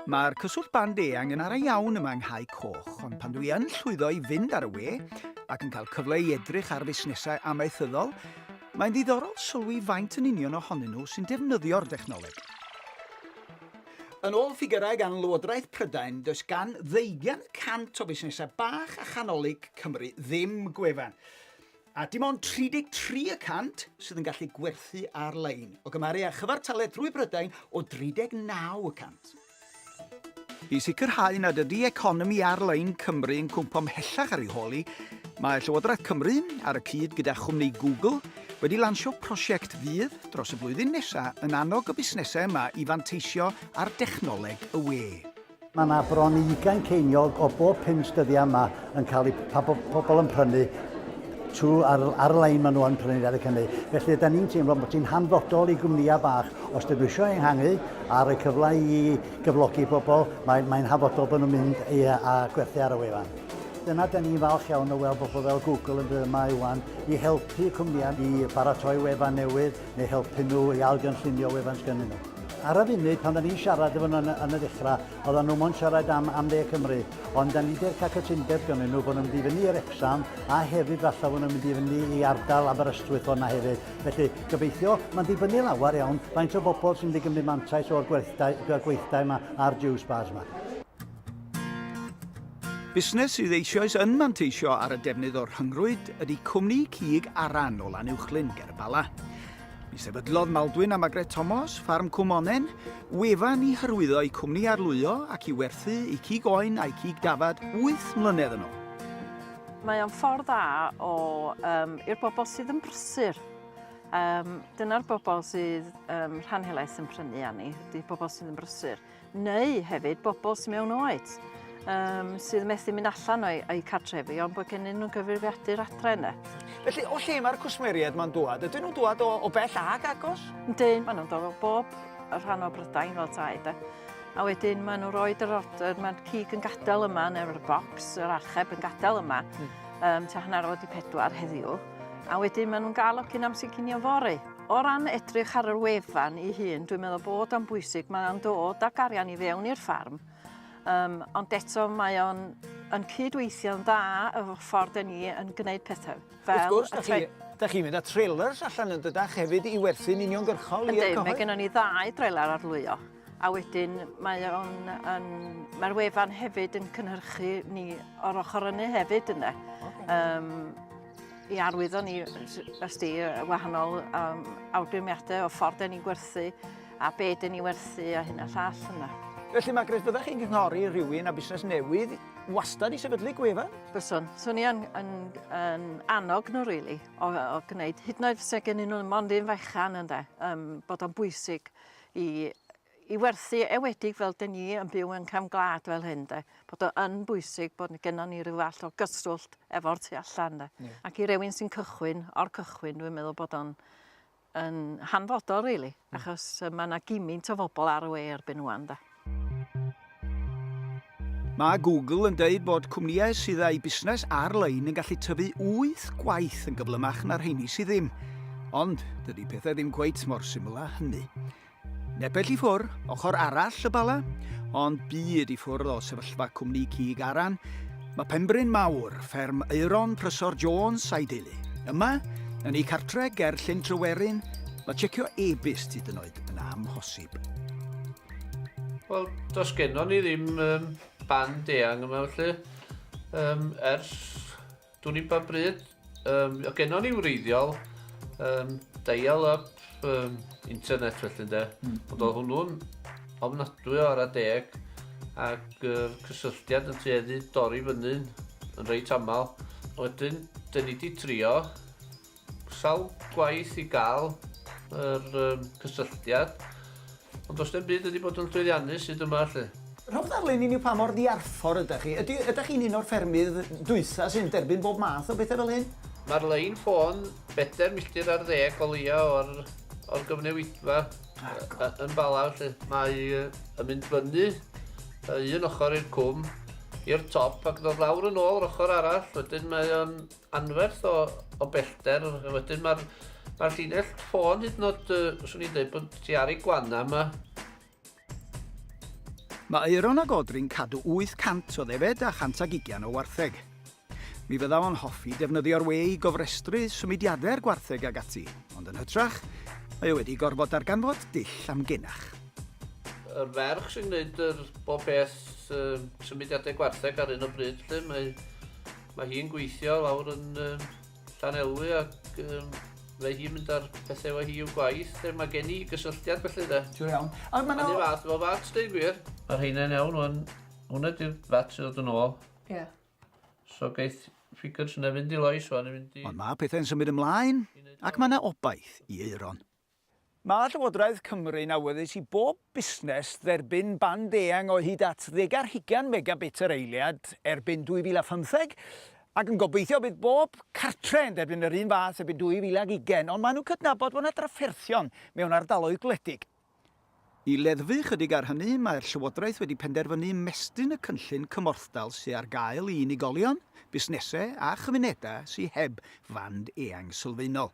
Mae'r cyswllt band eang yn ara iawn yma yng Nghau Coch, ond pan dwi yn llwyddo i fynd ar y we ac yn cael cyfle i edrych ar fusnesau amaethyddol, mae'n ddiddorol sylwi faint yn union ohonyn nhw sy'n defnyddio'r dechnoleg. Yn ôl ffigyrau gan Lywodraeth Prydain, does gan ddeugain y cant o fusnesau bach a chanolig Cymru ddim gwefan. A dim ond 33 y cant sydd yn gallu gwerthu ar-lein, o gymharu â chyfartaledd drwy Brydain o 39 y cant. I sicrhau nad ydy economi ar-lein Cymru yn cwmpo mhellach ar ei hôl hi, mae Llywodraeth Cymru, ar y cyd gyda chwmni Google, wedi lansio prosiect fydd, dros y flwyddyn nesaf, yn annog y busnesau yma i fanteisio ar dechnoleg y we. Mae yna bron i ugain ceiniog o bob pum styddiau yma yn cael eu pa bo- pobl yn prynu trwy ar, ar-lein maen nhw yn prynu yn Eric Cymru. Felly ydy ni'n teimlo bod ti'n hanfodol i gwmnïau bach. Os dyn nhw eisiau enghangu a rhoi cyfle i gyflogi bobl, mae'n mae hanfodol bod nhw'n mynd i, a gwerthu ar y wefan. Dyna dyn ni'n falch iawn o weld bobl fel Google yn bydd yma iwan i helpu cwmnïau i baratoi wefan newydd neu helpu nhw i algynllunio wefan sgynnyn nhw. Ar y funud, pan da ni'n siarad efo nhw yn y ddechrau, oedden nhw mo'n siarad am, am dde Cymru, ond da ni wedi'r cael cytundeb gynnyn nhw bod nhw'n mynd i fyny i'r exam, a hefyd falle bod nhw'n mynd i fyny i ardal Aberystwyth hwnna hefyd. Felly, gobeithio, mae'n dibynnu lawer iawn faint o bobl sy'n mynd i gymryd mantais o'r gweithdai, gweithdai yma a'r Jews bars yma. Busnes sydd eisoes yn manteisio ar y defnydd o'r rhyngrwyd ydy cwmni cig Aran o Lanuwchlyn ger y Bala. Mi sefydlodd Maldwyn a Magret Thomas ffarm Cwmonen, wefan i hyrwyddo eu cwmni arlwyo ac i werthu eu cig oen a'u cig dafad 8 mlynedd yn ôl. Mae o'n ffordd dda o um, i'r bobl sydd yn brysur. Um, dyna'r bobl sydd um, rhan helaeth yn prynu â ni, ydy pobl sydd yn brysur. neu hefyd bobl sy mewn oed um, sydd methu mynd allan o'i, o'i cartrefi ond bod gennyn nhw'n gyfrifiadur adre yna. Felly, o lle mae'r cwsmeriaid ma'n dŵad? Ydyn nhw'n dŵad o, o bell ag agos? Yndyn, maen nhw'n dod o bob rhan o Brydain fel tai, da. A wedyn maen nhw'n rhoi yr order, mae'r cig yn gadael yma, neu'r bocs, yr archeb yn gadael yma, mm. um, tua hanner o wedi pedwar heddiw. A wedyn maen nhw'n gael o cyn amser cinio fory. O ran edrych ar yr wefan ei hun, dwi'n meddwl bod o'n bwysig, mae o'n dod ag arian i fewn i'r ffarm, um, ond eto mae o'n yn cydweithio'n dda y ffordd dyn ni yn gwneud pethau. Fel Wrth gwrs, da chi, da chi mynd â trailers allan yn dydach hefyd i werthu'n uniongyrchol i'r cyhoedd? Ynddi, mae gennym ni ddau drailer arlwyo. A wedyn mae o'n yn mae'r wefan hefyd yn cynhyrchu ni o'r ochr yny hefyd ynde. Okay. Um, i arwyddo ni os di wahanol um, awgrymiadau o ffordd ni'n gwerthu a be dyn ni werthu a hyn a llall yna. Felly mae Gres, byddech chi'n cynghori rhywun a busnes newydd wastad i sefydlu gwefa? Byswn. Swn i yn, yn, yn annog nhw, really, o, o gwneud. Hyd yn oed fysa gen nhw mond un fechan, ynde, um, bod o'n bwysig i i werthu ewedig fel dyn ni yn byw yn cefn gwlad fel hyn de, bod o yn bwysig bod gennon ni ryw fath o gyswllt efo'r tu allan de. Yeah. Ac i rywun sy'n cychwyn o'r cychwyn dwi'n meddwl bod o'n yn hanfodol rili, really, mm. achos mae yna gimint o fobl ar y we erbyn ŵan de. Mae Google yn dweud bod cwmnïau sydd â'u busnes ar-lein yn gallu tyfu wyth gwaith yn gyflymach na'r rheini sydd ddim. Ond dydy pethau ddim cweit mor syml â hynny. Nepell i ffwr, ochr arall y bala, ond byd i ffwrdd o sefyllfa cwmni cig aran, Mae Penbryn Mawr, fferm Euron Prysor Jones a'i deulu. Yma, yn ei cartre ger Llyn Tryweryn, mae checio e-byst hyd yn oed yn amhosib. Wel, does gennon ni ddim um, band eang yma felly, um, ers dwi'n i'n pa bryd. Um, o gennon ni wreiddiol, um, dial-up um, internet felly de, mm. ond oedd hwnnw'n ofnadwy o ar a deg ac uh, cysylltiad yn tueddu dorri fyny'n yn reit aml. Wedyn, dyn ni wedi trio Sawl gwaith i gael yr um, cysylltiad, ond does dim byd wedi bod yn llwyddiannus hyd yma, lle. Rhowch ddarlun i ni pa mor ddiarffor ydych chi. Ydy, ydych chi'n un o'r ffermydd dwytha sy'n derbyn bob math o bethau fel hyn? Mae'r lein ffôn bedair milltir ar ddeg o leia o'r, o'r gyfnewidfa ah, yn Bala, lle mae yn mynd fyny un ochr i'r cwm, i'r top, ac ddod lawr yn ôl yr ochr arall, wedyn mae o'n anferth o, o bellter. Wedyn mae'r ma llinell ffôn hyd yn oed, uh, swn i'n dweud bod ti ar ei gwanna yma. Mae Euron a Godri'n cadw 800 o ddefed a 120 o wartheg. Mi fydda o'n hoffi defnyddio'r we i gofrestru symudiadau'r gwartheg ag ati, ond yn hytrach, mae o wedi gorfod darganfod dull am genach. Yr ferch sy'n gwneud yr bob beth symudiadau gwartheg ar un o bryd, lle mae Mae hi'n gweithio lawr yn um, Llanelwy ac um, fe hi'n mynd ar pethau efo hi i'w gwaith. Er mae gen i gysylltiad felly de. Ti'n iawn. A mae'n... Mae'n fath o fat, dweud gwir. Mae'r heina'n iawn o'n... Hwna di'r fat sydd oedd yn ôl. Ie. Yeah. So gaeth ffigwrs yna fynd i loes o'n mynd i... Ond mae pethau'n symud ymlaen ac mae yna obaith i Euron. Mae Llywodraeth Cymru'n awyddus i bob busnes dderbyn band eang o hyd at ddeg ar hugain megabit yr eiliad erbyn 2015, ac yn gobeithio bydd bob cartre yn derbyn yr un fath erbyn 2020, ond maen nhw'n cydnabod bod yna drafferthion mewn ardaloedd gwledig. I leddfu ychydig ar hynny, mae'r Llywodraeth wedi penderfynu ymestyn y cynllun cymorthdal sy ar gael i unigolion, busnesau a chymunedau sy heb fand eang sylfaenol.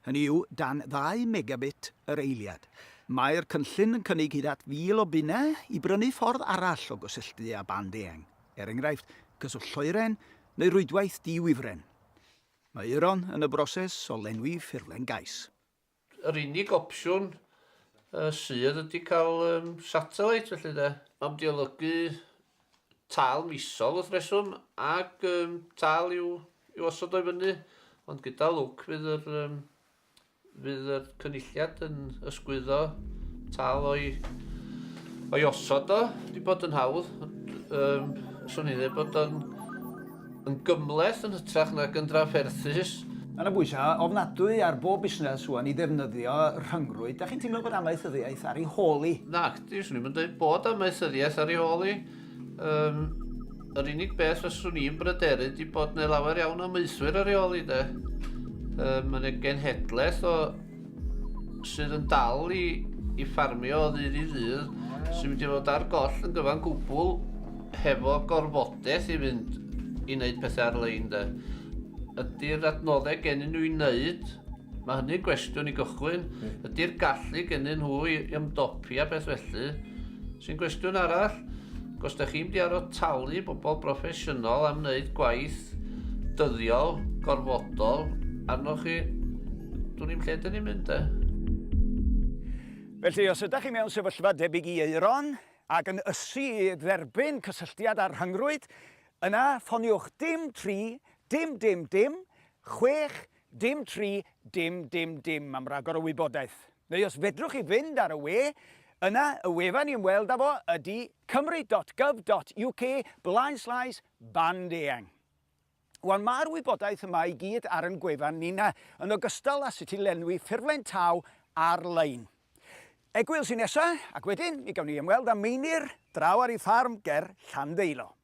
hynny yw dan ddau megabit yr eiliad. Mae'r cynllun yn cynnig hyd at 1,000 o bunnau i brynu ffordd arall o gysylltu â band eang, er enghraifft, cyswllt lloeren neu rwydwaith di-wifren. Mae Euron yn y broses o lenwi ffurflen gais. Yr unig opsiwn sydd ydy cael satellite felly de. Am diolygu tâl misol wrth reswm ac um, tâl i'w, i'w osod o'i fyny, ond gyda lwc fydd yr, um, fydd yr cynulliad yn ysgwyddo tâl o'i, o'i osod o, wedi bod yn hawdd. Um, swn i'n dweud bod o'n yn gymleth yn hytrach nag yn drafferthus. Mae yna bwysau ofnadwy ar bob busnes rwan i ddefnyddio rhyngrwyd. Da chi'n teimlo bod amaethyddiaeth ar ei hôl i? Nac, Dwi swn i'm yn dweud bod amaethyddiaeth ar ei hôl i. Um, yr unig beth fyswn i'n bryderu di bod neu lawer iawn o maethwyr ar ei ôl i de. Um, Mae'n ei genhedlaeth o sydd yn dal i, i ffarmio o ddydd i ddydd sy'n mynd i fod ar goll yn gyfan gwbl hefo gorfodaeth i fynd i wneud pethau ar-lein de. Ydy'r adnoddau gennym nhw i wneud Mae hynny'n gwestiwn i gychwyn. Ydy'r gallu gennyn nhw i ymdopi a beth felly? Sy'n gwestiwn arall. Os da chi'n mynd i aros talu bobl broffesiynol am wneud gwaith dyddiol, gorfodol, arnoch chi, dwi'n i'n lle dyn ni'n mynd e. Felly, os ydych chi mewn sefyllfa debyg i Euron ac yn ysu i dderbyn cysylltiad â'r rhyngrwyd, yna ffoniwch dim tri dim dim dim chwech Dim tri, dim, dim, dim am ragor o wybodaeth. Neu os fedrwch chi fynd ar y we, yna y wefan i ymweld â fo ydy cymru.gov.uk blaenslaes band eang. Wel, mae'r wybodaeth yma i gyd ar yn gwefan nina, yn ogystal â sut i lenwi ffurflen taw ar-lein. Egwyl sy'n nesa, ac wedyn mi gawn ni ymweld â Meinir draw ar ei ffarm ger Llanddeilo.